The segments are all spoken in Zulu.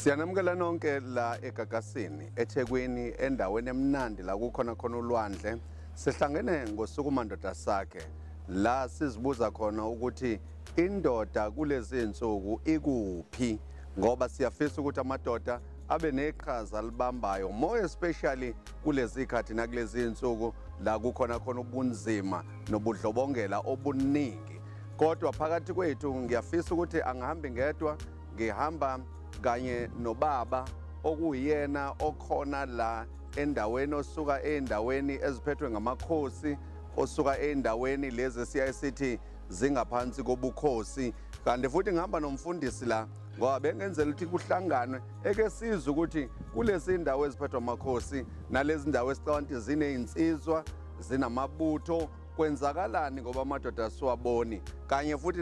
Siyanamukela nonke la eGagasini eThekwini endaweni emnandi la kukhona khona ulwandle sihlangene ngosuku mandoda sakhe la sizibuza khona ukuthi indoda kulezi insuku ikuphi ngoba siyafisa ukuthi amadoda abe neqhaza libambayo more especially kulezi khathi nakulezi insuku la kukhona khona ubunzima nobudlobongela obuningi kodwa phakathi kwethu ngiyafisa ukuthi angihambi ngedwa ngihamba kanye nobaba okuyena okhona la endaweni osuka endaweni eziphethwe ngamakhosi osuka endaweni lezi siyaye sithi zingaphansi kobukhosi kanti futhi ngihamba nomfundisi la ngoba bengenzela ukuthi kuhlanganwe eke sizwe ukuthi kulezi ndawo eziphethwa amakhosi nalezi ndawo esicabanga ukuthi ziney'nsizwa zinamabutho kwenzakalani ngoba amadoda siwaboni kanye futhi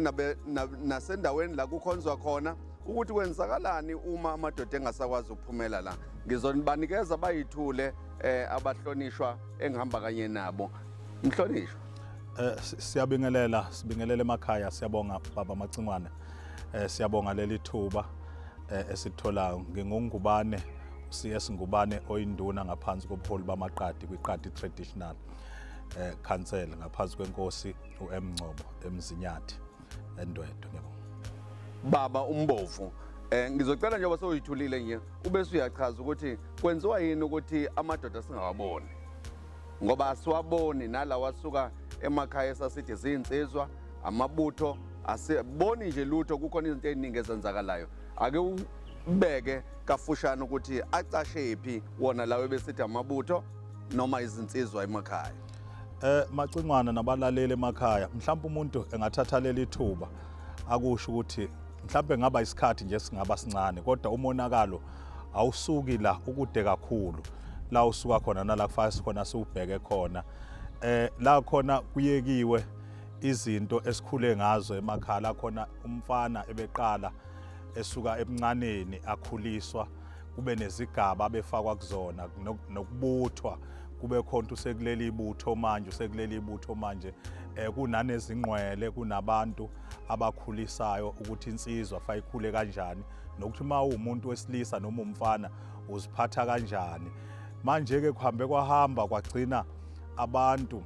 nasendaweni la kukhonzwa khona ukuthi kwenzakalani uma amadoda engasakwazi ukuphumela la ngizonibanikeza bayithule um abahlonishwa engihamba kanye nabo mhlonishwa Eh, siyabingelela sibingelela emakhaya siyabonga baba Macingwane eh, siyabonga leli thuba eh, esitholayo ngingungubane CS Ngubane oyinduna ngaphansi kobuholi bamaqadi kwiqadi traditional eh council ngaphansi kwenkosi uMngcobo eMzinyathi endwedwe ngiyabonga baba umbovu Eh ngizocela njengoba soyithulile nje ube suyachaza ukuthi kwenziwa yini ukuthi amadoda singawaboni. Ngoba asiwaboni nalawa asuka emakhaya esasithi zinsizwa amabutho asiboni nje lutho kukhona izinto eziningi ezenzakalayo. Ake ubeke kafushane ukuthi acashephi wona lawo besithi amabutho noma izinsizwa emakhaya eh macingwana nabalaleli emakhaya mhlawumbe umuntu engathatha leli thuba akusho ukuthi mhlawumbe ngaba isikhathi nje singaba sincane kodwa umonakalo awusuki la ukude kakhulu la usuka khona nala kufaka sikhona siwubheke khona eh la khona kuyekiwe izinto esikhule ngazo emakhaya la khona umfana ebeqala esuka ebuncaneni akhuliswa kube nezigaba abefakwa kuzona nokubuthwa kube khona usekuleli ibutho manje usekuleli ibutho manje eh kunanezingqwele kunabantu abakhulisayo ukuthi insizwa fayikhule kanjani nokuthi uma uwumuntu wesilisa noma umfana uziphatha kanjani manje ke kuhambe kwahamba kwagcina abantu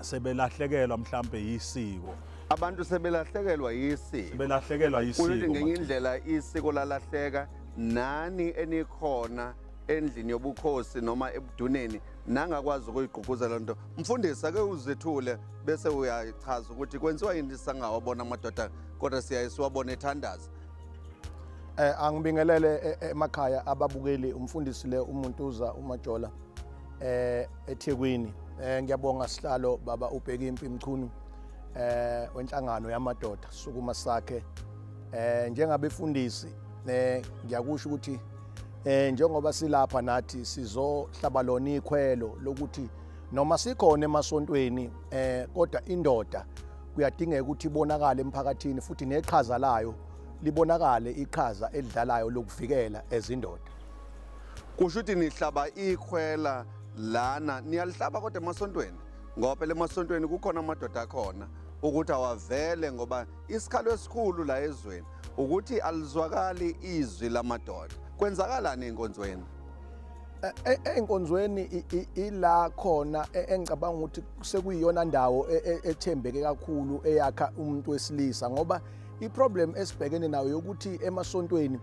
sebelahlekelwa mhlambe yisiko abantu sebelahlekelwa yisiko sebelahlekelwa yisiko uthi ngenye indlela isiko lalahleka nani enikhona endlini yobukhosi noma ebuduneni nangakwazi ukuyigqugquzela nto mfundisi ake uzethule bese uyachaza ukuthi kwenziwa yini sangawabona amadoda kodwa siyaye siwabone ethandaza eh angibingelele e, e, emakhaya ababukeli umfundisi le umuntu uza umajola eh eThekwini eh ngiyabonga sihlalo baba ubheka impi mchunu eh wenhlangano yamadoda sukuma sakhe eh njengabefundisi eh ngiyakusho ukuthi eh njengoba silapha nathi sizohlaba lona ikhwelo lokuthi noma sikhona emasontweni eh kodwa indoda kuyadingeka ukuthi ibonakale emphakathini futhi neqhaza layo libonakale iqhaza elidlalayo lokuvikela ezindoda kusho ukuthi nihlaba ikhwela lana niyalihlaba kodwa emasontweni ngoba phela emasontweni kukhona amadoda akhona ukuthi awavele ngoba isikhalo esikhulu la ezweni ukuthi alizwakali izwi lamadoda kwenzakalani enkonzweni e, e, enkonzweni ila khona e, engicabanga ukuthi sekuyiyona ndawo ethembeke kakhulu eyakha umuntu wesilisa ngoba iproblem esibhekene nayo yokuthi emasontweni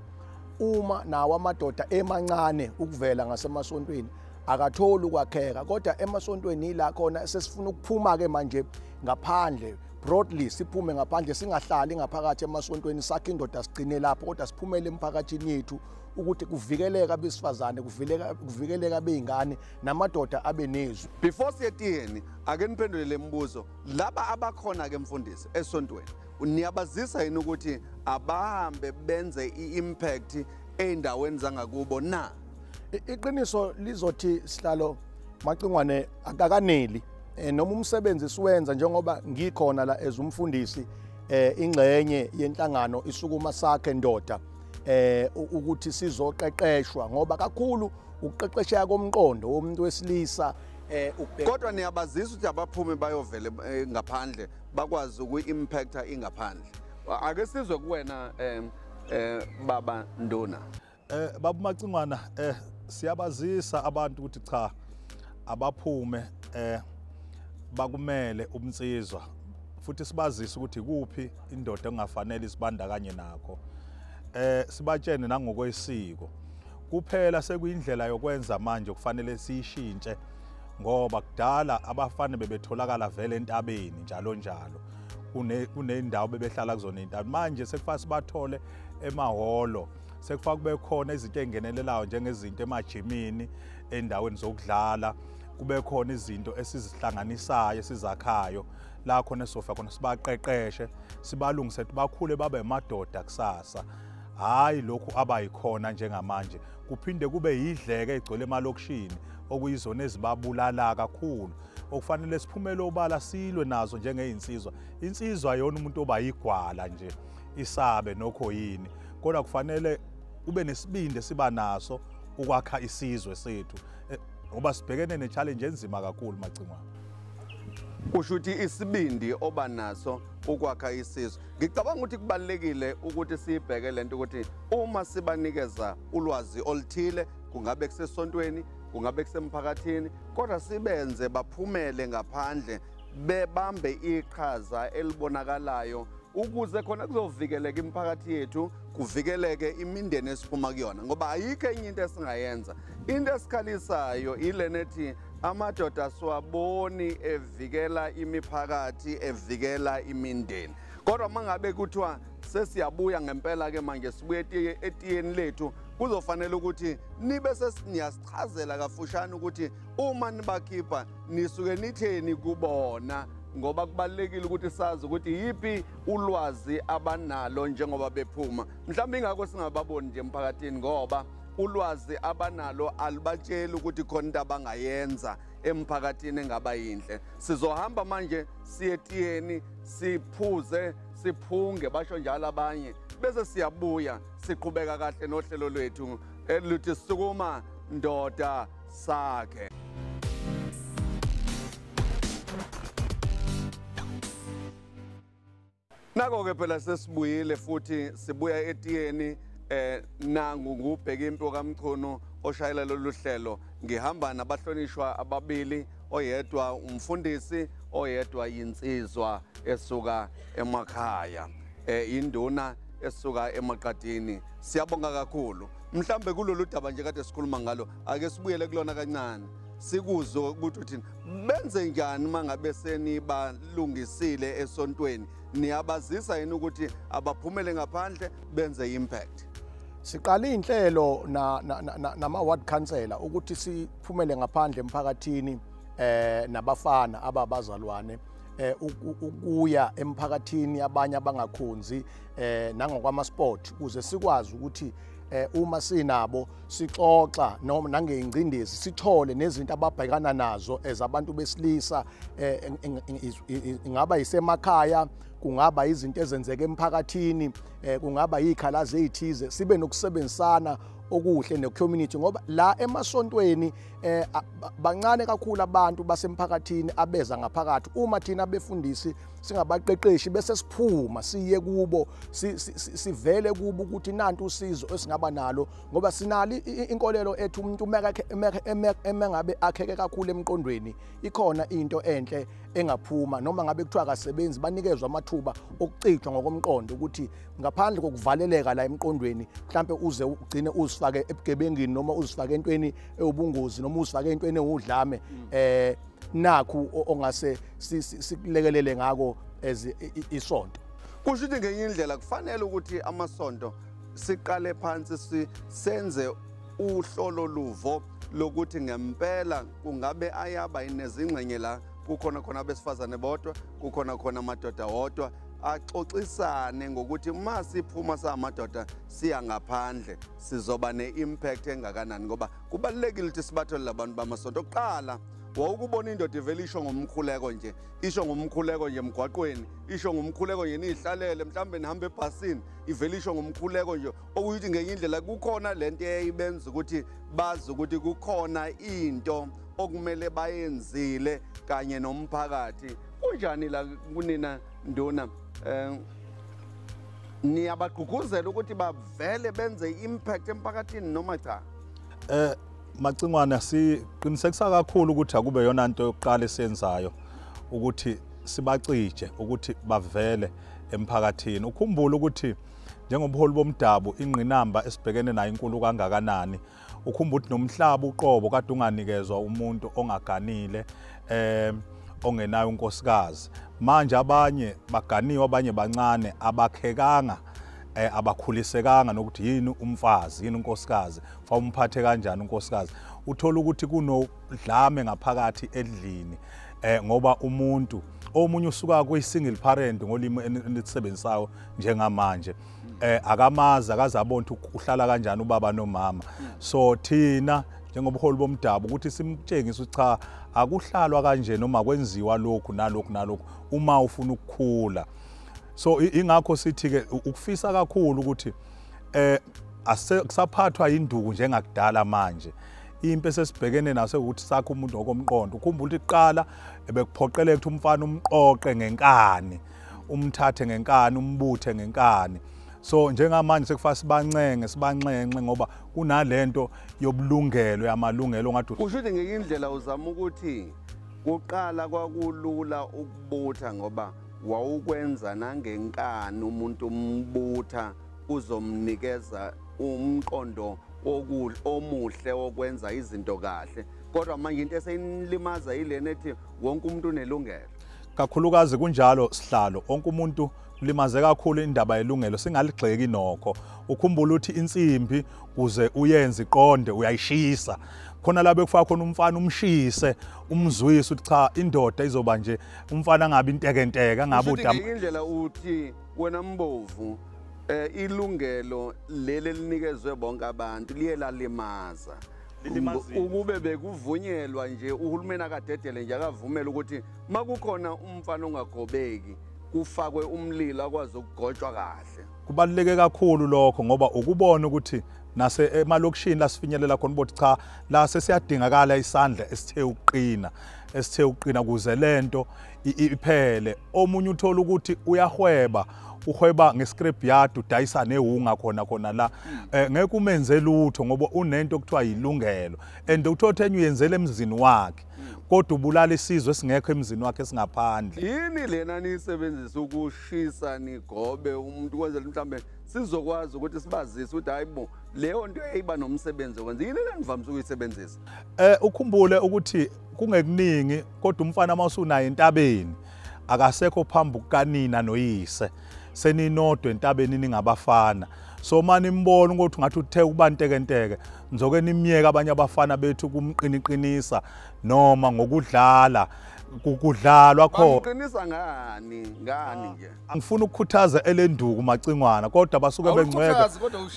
uma nawo amadoda emancane ukuvela ngasemasontweni akatholi ukwakheka kodwa emasontweni yila khona sesifuna ukuphuma ke manje ngaphandle broadly siphume ngaphandle singahlali ngaphakathi emasontweni sakhe indoda sigcine lapho kodwa siphumele emphakathini yethu ukuthi kuvikeleka abesifazane kuvikeleka kuvikeleka beingane namadoda abenezwi before siyetiyeni ake niphendule lemibuzo laba abakhona ke mfundisi esontweni niyabazisa yini ukuthi abahambe benze i-impact ey'ndaweni zangakubo na iqiniso lizothi sihlalo macingwane akakaneli eh, noma umsebenzi siwenza njengoba ngikhona la as umfundisi eh ingxenye yenhlangano isukuma sakhe ndoda eh ukuthi sizoqeqeshwa ngoba kakhulu ukuqeqesheka komqondo womuntu wesilisa eh ukubheka kodwa niyabazisa ukuthi abaphume bayovele eh, ngaphandle bakwazi ukuimpacta ingaphandle ake sizwe kuwena eh, eh baba nduna eh baba macingwana eh siyabazisa abantu ukuthi cha abaphume eh bakumele umnsizwa futhi sibazise ukuthi kuphi indoda engafanele isibandakanye nakho eh sibatshene nangokwesiko kuphela sekuyindlela yokwenza manje kufanele siyishintshe ngoba kudala abafana bebetholakala vele entabeni njalo njalo kuney'ndawo bebehlala kuzona iy'ntabi manje sekufanele sibathole emahholo sekufanele kube khona izinto ey'ngenelelayo njengezinto emajimini ey'ndaweni zokudlala kube khona izinto esizihlanganisayo esizakhayo la khona esizofika khona sibaqeqeshe sibalungise ukuthi bakhule babe madoda kusasa hhayi lokhu abayikhona njengamanje kuphinde kube yidleke egcwele emalokishini okuyizona ezibabulala kakhulu okufanele siphumele obala silwe nazo njengeyinsizwa insizwa yona umuntu oba yigwala nje isabe nokho yini kodwa kufanele ube nesibindi esiba naso ukwakha isizwe sethu eh, ngoba sibhekene ne-challenge enzima kakhulu macingwana kusho ukuthi isibindi oba naso ukwakha isizwe Ngicabanga ukuthi kubalekile ukuthi sibheke lento ukuthi uma sibanikeza ulwazi oluthile kungabe kusesontweni kungabe kusemphakathini kodwa sibenze baphumele ngaphandle bebambe iqhaza elibonakalayo ukuze khona kuzovikeleka imiphakathi yethu kuvikeleke imindeni esiphuma kuyona ngoba ayikho enye into esingayenza into esikhalisayo ilena ethi amadoda siwaboni evikela imiphakathi evikela imindeni kodwa mangabe kuthiwa sesiyabuya ngempela ke manje sibuye etiyeni lethu kuzofanele ukuthi nibe sesiniyasichazela kafushane ukuthi uma nibakhipha nisuke nitheni kubona ngoba kubalekile ukuthi sazi ukuthi yipi ulwazi abanalo njengoba bephuma mhlawumbe ingakho singababoni nje emphakathini ngoba ulwazi abanalo alubatsheli ukuthi khona into abangayenza emphakathini engaba yinhle sizohamba manje siye tiyeni siphuze siphunge basho njalo abanye bese siyabuya siqhubeka kahle nohlelo lwethu eluthi sukuma ndoda sakhe Nako-ke phela sesibuyile futhi sibuya etiyeni eh nangu ngubheka impi kaMchunu oshayela lolu hlelo ngihamba nabahlonishwa ababili oyedwa umfundisi oyedwa yinsizwa esuka emakhaya eh induna esuka emaqadini siyabonga kakhulu mhlambe kulolu daba nje kade sikhuluma ngalo ake sibuyele kulona kancane sikuzwe ukuthi uthini benze njani uma ngabe senibalungisile esontweni niyabazisa yini ukuthi abaphumele ngaphandle benze impact siqale inhlelo na nama ward councillor ukuthi siphumele ngaphandle emphakathini eh nabafana ababazalwane eh ukuya emphakathini abanye abangakhonzi eh nangokwama sport kuze sikwazi ukuthi eh uma sinabo sixoxa noma nangeyingcindezi sithole nezinto ababhekana nazo as abantu besilisa eh, ingaba isemakhaya kungaba izinto ezenzeka emphakathini eh, kungaba yikhalazi ezithize sibe nokusebenzisana okuhle ne-community ngoba la emasontweni eh bancane kakhulu abantu basemphakathini abeza ngaphakathi uma thina befundisi singabaqeqeshi bese siphuma siye kubo sivele kubo ukuthi nantu usizo esingaba nalo ngoba sinali inkolelo ethu umuntu uma ngabe akheke kakhulu emqondweni ikhona into enhle engaphuma noma ngabe kuthiwa akasebenzi banikezwa amathuba okucijwa ngokomqondo ukuthi ngaphandle kokuvaleleka la emqondweni mhlampe uze ugcine uzifake ebugebengini noma uzifake entweni ewubungozi noma uzifake entweni ewudlame mm. eh nakhu ongase sikulekelele ngako as isonto kusho ukuthi ngenye indlela kufanele ukuthi amasonto siqale phansi senze uhlolo luvo lokuthi ngempela kungabe ayaba inezingxenye la kukhona khona abesifazane bodwa kukhona khona amadoda wodwa axoxisane ngokuthi uma siphuma samadoda siya ngaphandle sizoba ne-impact engakanani ngoba kubalulekile ukuthi sibathole labantu bamasonto okuqala wawukubona indoda ivele isho ngomkhuleko nje isho ngomkhuleko nje emgwaqweni isho ngomkhuleko nje niyihlalele mhlawumbe nihambe ebhasini ivele isho ngomkhuleko nje okuyuthi ngenye indlela kukhona le nto eyayibenza ukuthi bazi ukuthi kukhona into okumele bayenzile kanye nomphakathi kunjani la kunina nduna um niyabagqugquzela ukuthi bavele benze i-impact emphakathini noma cha um Macingwane siqinisekisa kakhulu ukuthi akube yona nto yokuqala esiyenzayo ukuthi sibacije ukuthi bavele emphakathini ukhumbule ukuthi njengobuholi bomdabu ingqinamba esibhekene nayo inkulu kangakanani ukhumba ukuthi nomhlaba uqobo kade unganikezwa umuntu ongaganile eh ongenayo unkosikazi manje abanye baganiwe abanye bancane abakhekanga eh, abakhulisekanga nokuthi yini umfazi yini unkosikazi fa umphathe kanjani unkosikazi uthola ukuthi kunodlame ngaphakathi edlini eh ngoba umuntu omunye usuka kuyi single parent ngolimi enisisebenzisayo njengamanje eh akamazi akazabona ukuthi uhlala kanjani ubaba nomama so thina njengobuholi bomdabu ukuthi simtshengise ukuthi cha akuhlalwa kanje noma kwenziwa lokhu nalokhu nalokhu uma ufuna ukukhula so ingakho sithi ke ukufisa kakhulu ukuthi eh akusaphathwa induku njengakudala manje impi esesibhekene naso ukuthi sakho umuntu okomqondo ukhumbula ukuthi kuqala ebekuphoqeleka ukuthi umfana umqoqe ngenkani umthathe ngenkani umbuthe ngenkani so njengamanje sekufanele sibancenge sibanxenxe ngoba kunalento yobulungelo yamalungelo ngathi usho ukuthi ngeke indlela uzama ukuthi kuqala kwakulula ukubutha ngoba Wawukwenza nangenkani umuntu umbutha uzomnikeza umqondo omuhle okwenza izinto kahle kodwa manje into eseyinilimaza yilena ethi wonke umuntu unelungelo kakhulukazi kunjalo sihlalo onke umuntu limaze kakhulu indaba yelungelo singaligxeki nokho ukhumbula ukuthi insimbi kuze uyenze iqonde uyayishisa khona la bekufaka khona umfana umshise umzwise ukuthi cha indoda izoba nje umfana angabi intekenteke angabi udam indlela uthi wena mbovu eh ilungelo leli elinikezwe bonke abantu liye lalimaza ukube bekuvunyelwa nje uhulumeni akadedele nje akavumele ukuthi makukhona umfana ongagobeki kufakwe umlilo akwazi ukugotshwa kahle kubaluleke kakhulu lokho ngoba ukubona ukuthi nase emalokishini lasifinyelela khona ukuthi cha la sesiyadingakala isandla esithe ukuqina esithe uqina kuze lento iphele omunye uthola ukuthi uyahweba uhweba ngescrap yard udayisa newunga khona khona la hmm. eh, ngeke umenze lutho ngoba unento okuthiwa yilungelo and uthothe enye uyenzele emzini wakhe hmm. kodwa ubulala isizwe singekho emzini wakhe esingaphandle yini lena niyisebenzisa ukushisa nigobe umuntu kwenzela mhlambe sizokwazi ukuthi sibazise ukuthi hayibo leyo nto eyiba nomsebenzi wenza yini lenivamise ukuyisebenzisa Eh ukhumbule ukuthi kungekuningi kodwa umfana mawusunaye entabeni akasekho phambi kukanina noyise seninodwe entabeni ningabafana so mani mbona ukuthi ngathi uthe ukuba ntekenteke ngizoke nimyeke abanye abafana bethu kumqiniqinisa noma ngokudlala kudlalwa khona uqinisa ngani ngani ah. nje ngifuna ukukhuthaza elenduku macingwana kodwa basuke bengcweka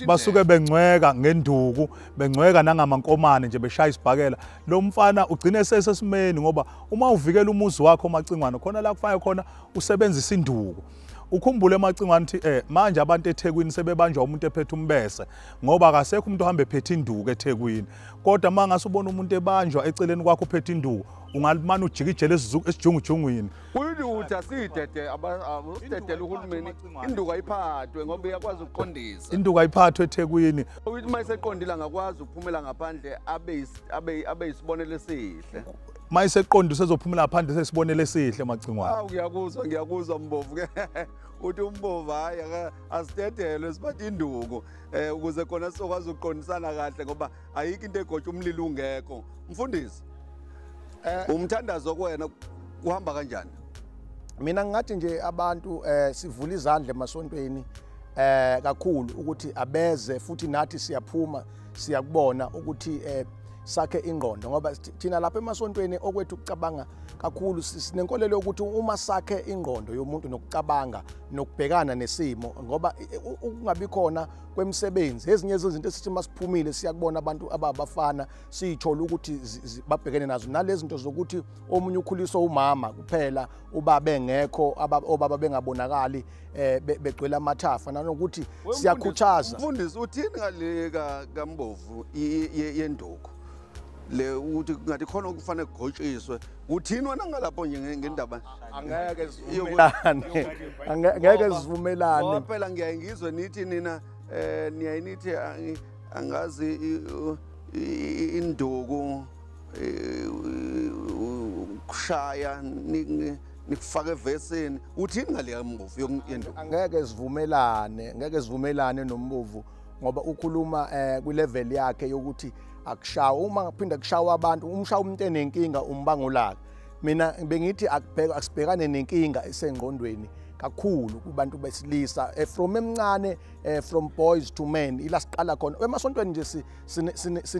basuke bengcweka ngenduku bengcweka nangamankomane nje beshaya isibhakela lo mfana ugcine sesesimeni ngoba uma uvikela umuzi wakho omacingwane khona la kufanele khona usebenzisa induku ukhumbule emacingwane ukuthi eh manje abantu eThekwini sebebanjwa umuntu ephethe umbese ngoba akasekho umuntu ohamba ephethe induku eThekwini kodwa mangase ubona umuntu ebanjwa eceleni kwakho uphethe induku ungalimana ujikijele esijungujungwini Uyilutha sidede abadedela uhulumeni induku ayiphathwe ngoba iyakwazi ukuqondisa. Induku ayiphathwe eThekwini. Uyithi uma iseqondile angakwazi ukuphumela ngaphandle abe abe abe isibonelo esihle. Uma iseqondile usezophumela ngaphandle sesibonelo esihle macingwane. Awu ngiyakuzwa ngiyakuzwa mbovu ke. uthi umbovu hayi asidedelwe sibathi induku um ukuze khona sizokwazi ukuqondisana kahle ngoba ayikho into egotsha umlilo ungekho mfundisi eh. umthandazo kwena kuhamba kanjani mina ngingathi nje abantu eh sivula izandla emasontweni eh kakhulu ukuthi abeze futhi nathi siyaphuma siyakubona ukuthi eh sakhe ingqondo ngoba thina lapha emasontweni okwethu ukucabanga kakhulu sinenkolelo ukuthi uma sakhe ingqondo yomuntu nokucabanga nokubhekana nesimo ngoba ukungabi khona kwemisebenzi ezinye zezinto esithi masiphumile siyakubona abantu ababafana siyithola ukuthi babhekene nazo nalezi zinto zokuthi omunye ukhuliswa umama kuphela ubaba engekho obaba bengabonakali eh, um begcwele amathafa nanokuthi siyakhuthaza mfundisi uthini ngale kambovu yenduku le ukuthi ngathi khona okufanele kugotshiswe kuthini wena ngalapho nje ngendaba angeke sivumelane angeke sivumelane phela ngiyaye ngizwe nithi nina eh niyaye nithi angazi induku kushaya nikufaka evesini uthini ngaleya mbovu yokuyenduku angeke sivumelane ngeke sivumelane nombovu ngoba ukhuluma eh kwi level yakhe yokuthi akushawa uma kuphinda kushawa abantu umshawa umuntu enenkinga umbangulaka mina bengithi akubheka asibhekane nenkinga esengqondweni kakhulu kubantu besilisa eh, from emncane eh, from boys to men ila siqala khona emasontweni nje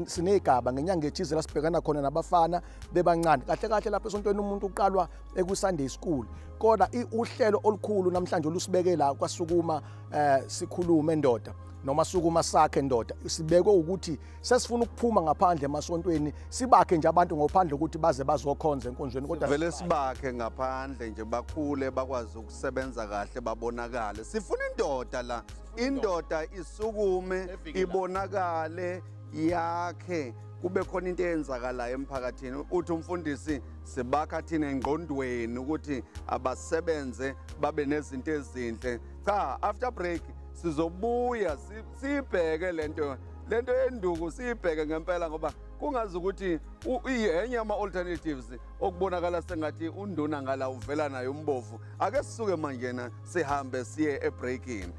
sinegaba ngenyanga ethize la sibhekana khona nabafana bebancane kahle kahle lapha esontweni umuntu uqalwa eku-sunday school kodwa uhlelo olukhulu namhlanje olusibeke la kwasukuma um sikhulume ndoda noma sukuma sakhe ndoda sibekwe ukuthi sesifuna ukuphuma ngaphandle emasontweni sibakhe nje abantu ngophandle ukuthi baze bazokhonza enkonzweni kodwa vele sibakhe ngaphandle nje bakhule bakwazi ukusebenza kahle babonakale sifuna indoda la indoda isukume ibonakale yakhe kube khona into eyenzakalayo emphakathini uthi umfundisi sibakha thina engqondweni ukuthi abasebenze babe nezinto ezinhle cha after break sizobuya sibheke lento lento yenduku siyibheke ngempela ngoba kungazi ukuthi yenye ama-alternatives okubonakala sengathi unduna ngala uvela nayo umbovu ake sisuke manjena sihambe siye ebreakini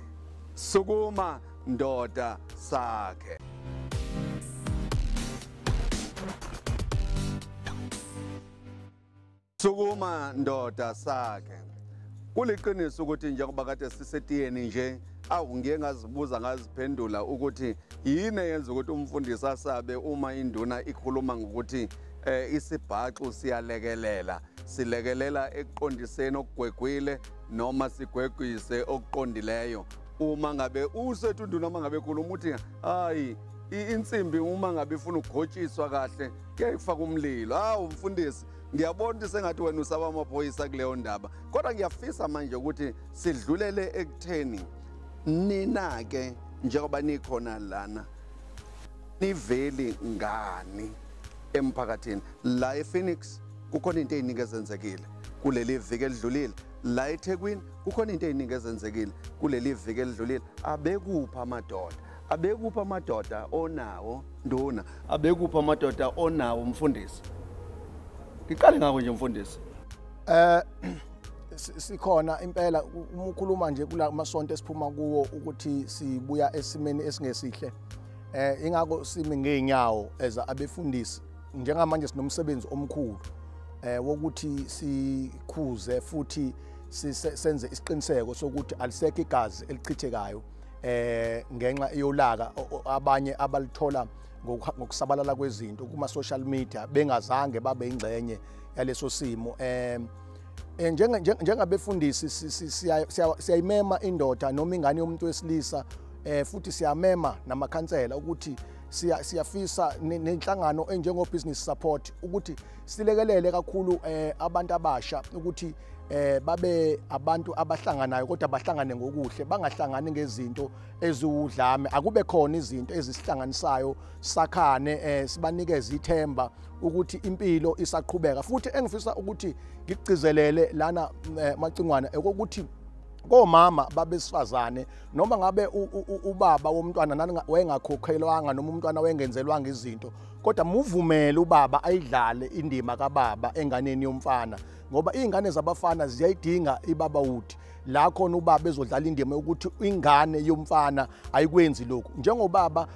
sukuma ndoda sakhe Sukuma ndoda sakhe. Kuliqiniso ukuthi njengoba kade sisetiyeni nje awu ngiye ngazibuza ngaziphendula ukuthi yini eyenza ukuthi umfundisi asabe uma induna ikhuluma ngokuthi eh isibhaxu siyalekelela silekelela ekuqondiseni okugwegwile noma sigwegwise okuqondileyo uma ngabe usethu induna uma ngabe khuluma ukuthi hayi insimbi uma ngabe ifuna ukugotshiswa kahle kuyayifaka umlilo hawu mfundisi ngiyabona ukuthi sengathi wena usaba amaphoyisa kuleyo ndaba kodwa ngiyafisa manje ukuthi sidlulele ekutheni nina-ke njengoba nikhona lana niveli ngani emphakathini la ephoenix kukhona into eyiningi ezenzekile kuleli viki elidlulile la ethekwini kukhona into eyiningi ezenzekile kuleli viki elidlulile abekuphi amadoda Abekuphi amadoda onawo nduna? Abekuphi amadoda onawo mfundisi? Ngiqale ngakho nje mfundisi. Eh sikhona impela uma ukhuluma nje kula masonto esiphuma kuwo ukuthi sibuya esimeni esingesihle eh ingakho simi ngeenyawo eza abefundisi njengamanje sinomsebenzi omkhulu eh wokuthi sikhuze futhi senze isiqiniseko sokuthi alisekho igazi elichithekayo eh ngenxa yolaka abanye abalithola ngokusabalala kwezinto kuma social media bengazange babe ingcenye yaleso simo eh, eh njenga njengabefundisi siyayimema indoda noma ingane yomuntu wesilisa eh futhi siyamema namakhansela ukuthi siyafisa nenhlangano enjengo business support ukuthi silekelele kakhulu eh, abantu abasha ukuthi eh babe abantu abahlanganayo kodwa bahlangane ngokuhle bangahlangani ngezinto eziwudlame akube khona izinto ezisihlanganisayo sakhane eh sibanikeze ithemba ukuthi impilo isaqhubeka futhi engifisa ukuthi ngigcizelele lana eh, macingwana ekokuthi komama babesifazane noma ngabe ubaba womntwana nani wayengakhokhelwanga noma umntwana wayengenzelwanga izinto kodwa muvumele ubaba ayidlale indima kababa enganeni yomfana ngoba iy'ngane zabafana ziyayidinga ibaba wudi la khona ubaba ezodlala indima yokuthi ingane yomfana ayikwenzi lokhu njengobaba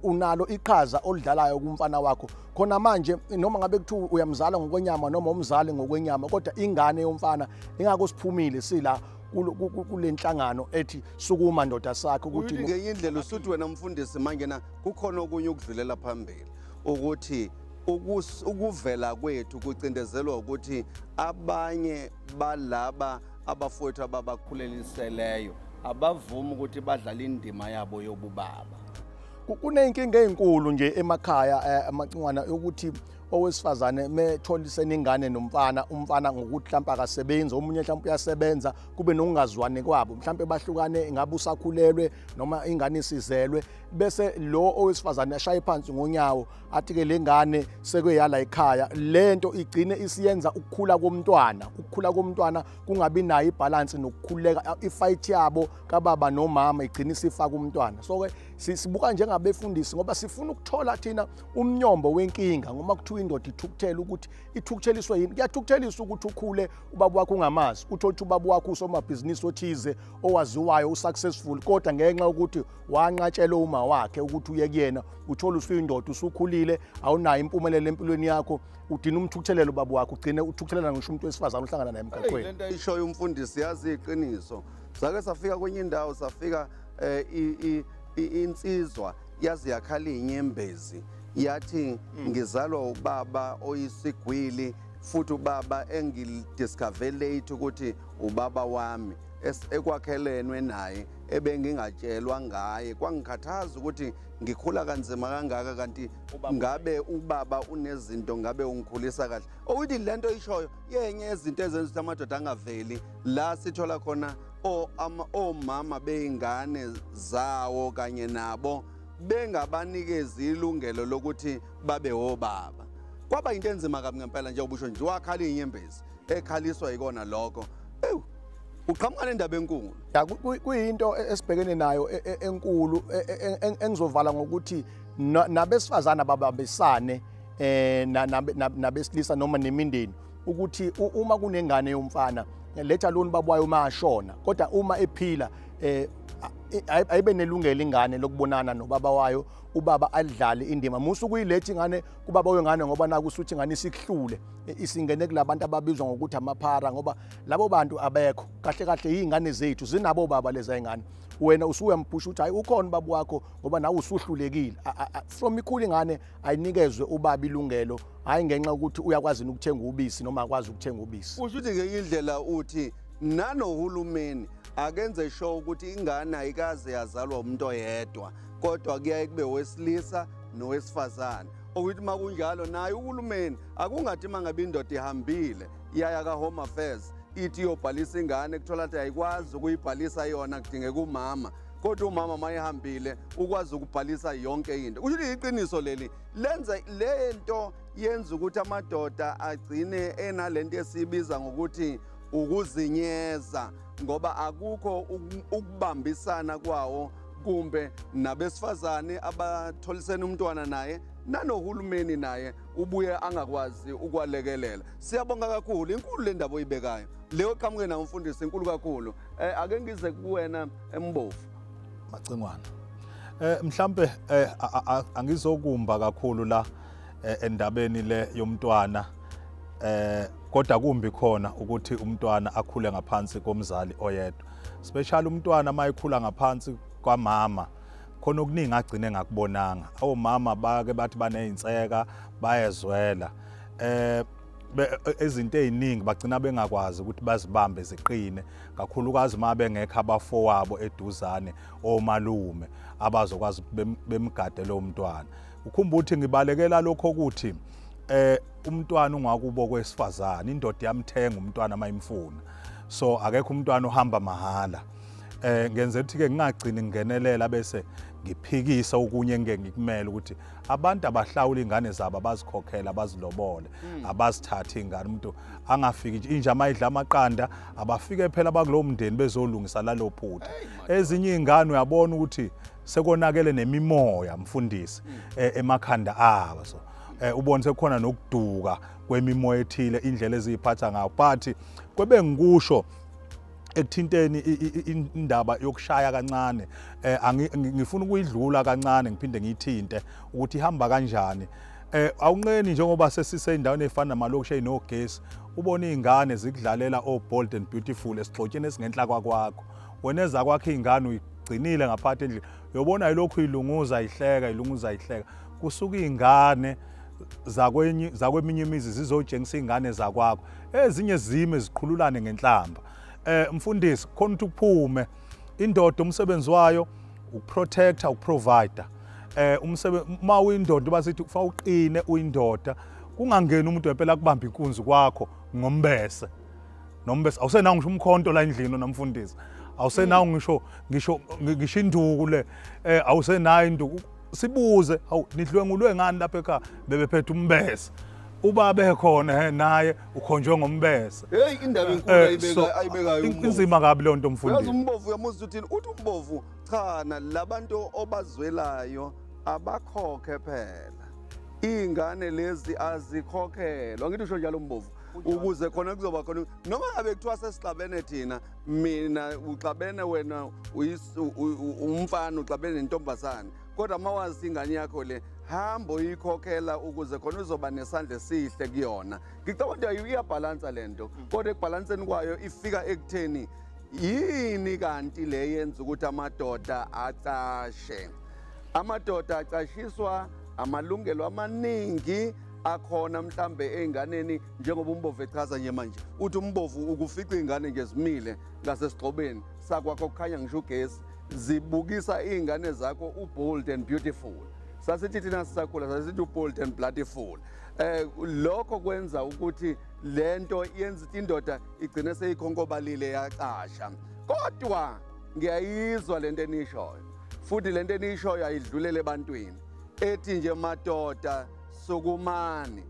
unalo iqhaza olidlalayo kumfana wakho khona manje noma ngabe kuthiwa uyamzala ngokwenyama noma umzali ngokwenyama kodwa ingane yomfana ingako siphumile sila kule nhlangano ethi sukuma ndoda sakhe ukuthi ngenye indlela usuthi wena mfundisi manje na kukhona okunye ukudlulela phambili ukuthi Ukuvela kwethu kucindezelwa ukuthi abanye balaba abafowethu ababakhuleliseleyo abavumi ukuthi badlala indima yabo yobubaba kuneyinkinga ezinkulu nje emakhaya eh, amacingwana ukuthi owesifazane metholisene ingane nomfana umfana ngokuthi mhlawumbe akasebenzi omunye mhlawumbe uyasebenza kube nokungazwani kwabo mhlawumbe bahlukane ngabe usakhulelwe noma ingane isizelwe bese lo owesifazane ashaye phansi ngonyawo athi ke lengane sekweyala ekhaya lento igcine isiyenza ukukhula komntwana ukukhula komntwana kungabi nayo ibalance nokukhuleka ifight yabo kababa nomama igcine isifaka umntwana so ke sibuka njengabefundisi ngoba sifuna ukuthola thina umnyombo wenkinga ngoma kuthiwa indoda ithukuthela ukuthi ithukutheliswe yini kuyathukutheliswa ukuthi ukhule ubaba wakho ungamazi uthole ukuthi ubaba wakho usomabhizinisi othize owaziwayo usuccessful kodwa ngenxa yokuthi wanqatshelwe uma wakhe ukuthi uye kuyena uthola usuyindoda usukhulile awunayo impumelelo empilweni yakho udina umthukuthelelo baba wakho ugcine uthukuthelana ngisho umuntu wesifazane uhlangana naye emgaqweni lento ayishoyo umfundisi yazi iqiniso sake safika kwenye indawo safika um insizwa yazi yakhala inyembezi yathi hmm. ngizalwa ubaba oyisigwili futhi ubaba engidiscover late ukuthi ubaba wami ekwakhelenwe naye ebengingatshelwa ngaye kwangikhathaza ukuthi ngikhula kanzima kangaka kanti ngabe ubaba unezinto ngabe ungikhulisa kahle okuthi le nto ishoyo yenye yezinto ezenza ukuthi amadoda angaveli la sithola khona omama bey'ngane zawo kanye nabo bengabanikezi ilungelo lokuthi babe wobaba kwaba yinto enzima kabi ngempela njengoba usho nje wakhala iy'nyembezi ekhaliswa yikona lokho ewu uqhamuka nendaba enkulu ya kuyinto e, esibhekene nayo e, e, enkulu engizovala ngokuthi nabesifazana babambisane eh nabesilisa noma nemindeni ukuthi uma kunengane yomfana letha lona babwayo uma ashona kodwa uma ephila eh ayibe nelungelo ingane lokubonana nobaba wayo ubaba alidlale indima musu kuyilethi ingane kubaba wengane ngoba naku usuthi ngani sikuhlule isingene kulabantu ababizwa ngokuthi amaphara ngoba labo bantu abekho kahle kahle yingane zethu zinabo baba leza ingane wena usuyamphusha ukuthi hayi ukhona baba wakho ngoba nawe usuhlulekile from ikhulu ingane ayinikezwe ubaba ilungelo hayi ngenxa ukuthi uyakwazi ukuthenga ubisi noma akwazi ukuthenga ubisi usho ukuthi ngenye indlela uthi nanohulumeni akenze sho ukuthi ingane ayikaze yazalwa umuntu oyedwa kodwa kuyaye kube wesilisa nowesifazane okuthi uma kunjalo naye uhulumeni akungathi uma ngabe indoda ihambile yaya ka-home affairs ithi iyobhalisa ingane kuthola ukuthi ayikwazi ukuyibhalisa yona kudingeka umama kodwa umama mayehambile ukwazi ukubhalisa yonke into kusho ukuthi iqiniso leli lenza le nto yenza ukuthi amadoda agcine enale nto esiyibiza ngokuthi ukuzinyeza ngoba akukho ukubambisana kwawo kumbe nabesifazane abatholisene umntwana naye nanohulumeni naye ubuye angakwazi ukwalekelela siyabonga kakhulu inkulu le ndaba oyibekayo leyo qhamuke nawo umfundisi inkulu kakhulu um ake ngize kuwena embovu eh, macingwana um mhlampe um angizokumba kakhulu la endabeni le yomntwana um kodwa kumbi khona ukuthi umntwana akhule ngaphansi komzali oyedwa special umntwana uma ekhula ngaphansi kwamama khona okuningi agcine ngakubonanga awomama bake bathi baneyinseka bayezwela eh ezinto eziningi bagcina bengakwazi ukuthi bazibambe ziqine kakhulukazi uma bengekho abafowabo eduzane omalume abazokwazi bemgade lo mntwana ukhumbuthi ngibalekela lokho ukuthi eh umntwana ungakubo kwesifazane indoda yamthenga umntwana mayimfuna so akekho umntwana ohamba mahhala eh ngenze ukuthi ke ngingagcini ngingenelela bese ngiphikisa okunye engeke ngikumele ukuthi abantu abahlawula ingane zabo abazikhokhela abazilobole hmm. abazithathe ingane umuntu angafiki nje inja mayidla amaqanda abafike phela bakulowo mndeni bezolungisa lalo phutha ezinye izingane uyabona ukuthi sekonakele nemimoya mfundisi hmm. eh, emakhanda abo so eh, ubone sekukhona nokuduka kwemimoya ethile indlela eziyiphatha ngayo but kwebe ngikusho ekuthinteni indaba yokushaya kancane eh ngifuna ukuyidlula kancane ngiphinde ngiyithinte ukuthi ihamba kanjani eh awunqeni njengoba sesise endaweni efana namalokusha inogesi ubona izingane zikudlalela o oh, bold and beautiful esigxotsheni esingenhla kwakwakho wena ezakwakhe izingane uyigcinile ngaphathi endlini yobona ilokhu ilunguza ihleka ilunguza ihleka kusuka izingane zakwenye zakweminye imizi zizojengisa izingane zakwakho ezinye zime ziqhululane ngenhlamba eh mfundisi khona ukuthi kuphume indoda umsebenzi wayo ukuprotector ukuprovider eh umsebenzi uma uyindoda basithi kufanele uqine uyindoda kungangeni umuntu wempela kubamba inkunzi kwakho ngombese nombes awusenawo ngisho umkhonto la endlini namfundisi awusenawo ngisho ngisho ngisho induku le eh awusenayo induku sibuze awu nidlwengulwe ngani lapha ekhaya bebephethe umbese uba bekhona he naye ukhonjwe ngombese hey indaba eh, enkulu ayibeka ayibekayo inzima kabi le nto mfundisi uyazi umbovu uyamuzwa uthini uthi umbovu cha labantu obazwelayo abakhokhe phela iy'ngane lezi azikhokhelwa ngithi usho njalo mbovu ukuze khona kuzoba khona noma ngabe kuthiwa sesixabene thina mina uxabene wena umfana uxabene nentombazane kodwa uma wazi ingane yakho le hamba uyikhokhela ukuze khona uzoba nesandla esihle kuyona ngicabanga ukuthi iyabhalansa le nto mm. kodwa ekubhalanseni kwayo ifika ekutheni yini kanti le yenza ukuthi amadoda acashe amadoda acashiswa amalungelo amaningi akhona mhlambe ezinganeni njengoba umbovu echaza nje manje uthi umbovu ukufica izingane nje zimile ngasesigxobeni sakwakho kukhanya ngisho ugesi zibukisa izingane zakho ubold and beautiful sasithi thina sisakhula sasithi ubold and bloodful eh lokho kwenza ukuthi lento yenza indoda igcine seyikhonkobalile yacasha kodwa ngiyayizwa lento enishoyo futhi lento enishoyo ayidlulele ebantwini ethi nje madoda Sukumani,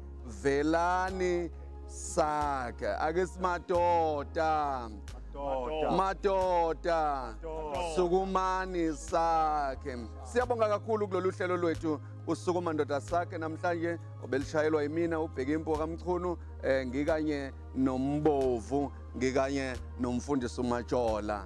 velani sakhe. Ake simadoda. Madoda. Sukumani sakhe. Siyabonga kakhulu kulolu hlelo lwethu usukuma ndoda sakhe namhlanje obelishayelwa yimina ubheke impuwa kamchunu eh ngikanye nombovu ngikanye nomfundisi umatshola